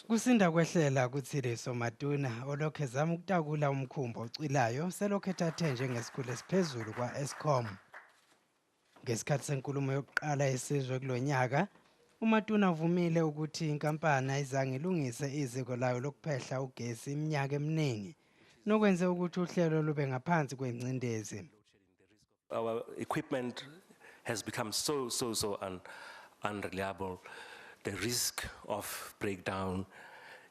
Kusinda kwehlela kuThiliso Maduna olokhu ezama ukutakula umkhumbi ocwilayo selokhu ethathe njengesikhulu esiphezulu kwa-Eskom. Ngesikhathi senkulumo yokuqala yesizwe kulo nyaka, uMatuna uvumile ukuthi inkampani ayizange ilungise iziko layo lokuphehla ugesi iminyaka eminingi, nokwenze ukuthi uhlelo lube ngaphansi kwengcindezi. Our equipment has become so, so, so un unreliable. The risk of breakdown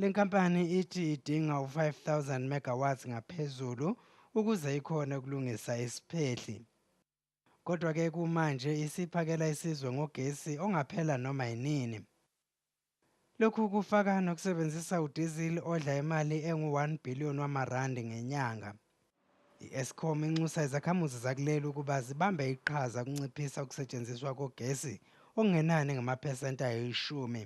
Le nkampani ithi idinga u-5000 megawatts ngaphezulu ukuze ikhone ukulungisa isiphehli. Kodwa ke kumanje isiphakela isizwe ngogesi ongaphela noma yinini. Lokhu kufaka nokusebenzisa udizil odla imali engu-1 billion wamarandi ngenyanga. I-Eskom inxusa izakhamuzi zakuleli ukuba zibambe iqhaza ukunciphisa ukusetshenziswa kogesi okungenani ngamaphesenti ayishumi.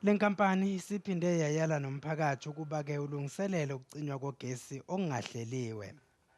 Le nkampani isiphinde yayala nomphakathi ukuba-ke ulungiselele ukucinywa kogesi okungahleliwe.